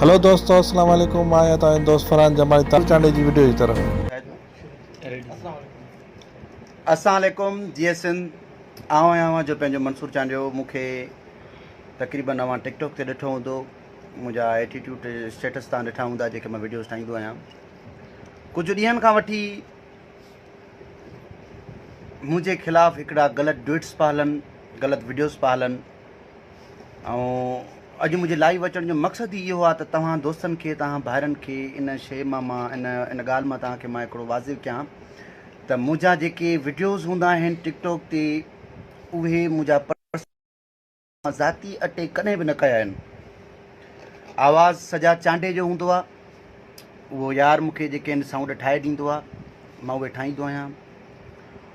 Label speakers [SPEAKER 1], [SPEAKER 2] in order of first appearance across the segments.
[SPEAKER 1] هلو دوستو السلام عليڪم مان آهيان توهان جو دوست فرحان جمالي تازو چانڊئي جي وڊيو جي طرف.
[SPEAKER 2] اسلام عليڪم جي ايس سنڌ آئون آهيان اوهان جو پنهنجو منصور چانڊيو مون کي تقريبن اوهان ٽڪ ٽاڪ تي ڏٺو هوندو منهنجا ايٽيٽيوڊ اسٽيٽس تان ڏٺا هوندا جيڪي مان ويڊيوز ٺاهيندو آهيان ڪجهه ڏينهن کان وٺي منهنجي خلاف هڪڙا غلط ڊوئٽس پيا هلن غلط ويڊيوز پيا هلن ۽ اڄ منهنجي لائيو اچڻ جو مقصد ئي اهو آ ته توهان دوستن کي توهان ڀائرن کي ان شيء مان مان ان ان ڳالهه مان توهان کي مان هڪڙو واضح ڪيان ته منهنجا جيڪي وڊيوز هوندا آهن ٽڪ ٽاڪ تي اهي منهنجا پرسنل مان ذاتي اٽيڪ ڪڏهن به نه ڪيا آهن آواز سجا چانڊي جو هوندو آ اهو يار مونکي جيڪي آهن سائونڊ ٺاهي ڏيندو آ مان اهي ٺاهيندو آهيان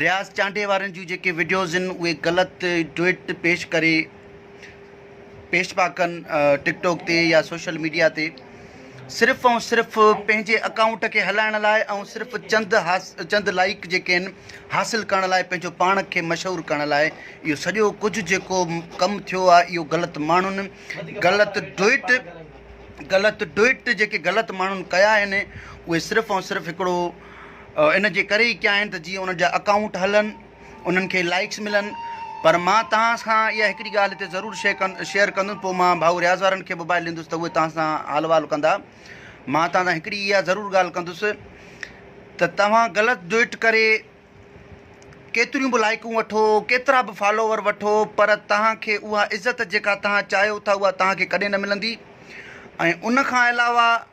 [SPEAKER 2] رياض چانڊيي وارن جون جيڪي وڊيوز ان اهي غلط ڊوئٽ پيش ڪري پيش پيا ڪن ٽڪ ٽاڪ تي يا سوشل ميڊيا تي صرف ۽ صرف پنهنجي اڪائونٽ کي هلائڻ لاء ۽ صرف چند حاص چند لائيڪ جيڪي آهن حاصل ڪرڻ لاء پنهنجو پاڻ کي مشهور ڪرڻ لاء اهو سڄو ڪجهه جيڪو ڪم ٿيو آهي اهو غلط ماڻهن غلط ڊوئٽ غلط ڊوئٽ جيڪي غلط ماڻهن ڪيا آهن اهي صرف ۽ صرف هڪڙو ان جي ڪري ئي ڪيا آهن ته جيئن انهن جا اڪائونٽ هلن انهن کي لائڪس ملن پر مان توهان سان اها هڪڙي ڳالهه هتي ضرور شيئر ڪندس پوء مان ڀائو رياض وارن کي موبائل ڏيندس ته اهي توهان سان حال وال ڪندا مان توهان سان هڪڙي اها ضرور ڳالهه ڪندس ته توهان غلط ڊوئٽ ڪري ڪيتريون به لائقون وٺو ڪيترا به فالوور وٺو پر توهان کي اها عزت جيڪا توهان چاهيو ٿا اها توهان کي ڪڏهن نه ملندي ۽ ان کان علاوه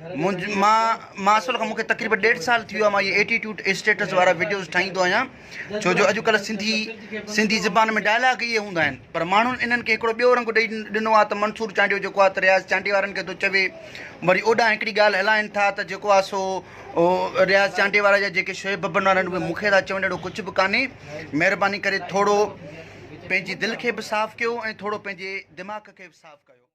[SPEAKER 2] منهنجي مان مان اصل کان مون کي تقريبا ڏيڍ سال ٿي ويو مان هي ايٽيٽيوٽ اسٽيٽس وارا وڊيوز ٺاهيندو آهيان ڇو جو اڄڪلهه سنڌي سنڌي زبان ۾ ڊائلاگ اهي هوندا آهن پر ماڻهن انهن کي هڪڙو ٻيو رنگ ڏئي ڏنو آهي ته منصور چانڊيو جيڪو آهي ته رياض چانڊيو وارن کي ٿو چوي وري اوڏانهن هڪڙي ڳالهه هلائين ٿا ته جيڪو آهي سو رياض چانڊيو وارا جا جيڪي شعيب ببن وارا آهن مون کي ٿا چون اهڙو ڪجهه به ڪانهي مهرباني ڪري ٿورو پنهنجي دل کي به صاف ڪيو ۽ ٿورو پنهنجي دماغ کي به صاف ڪيو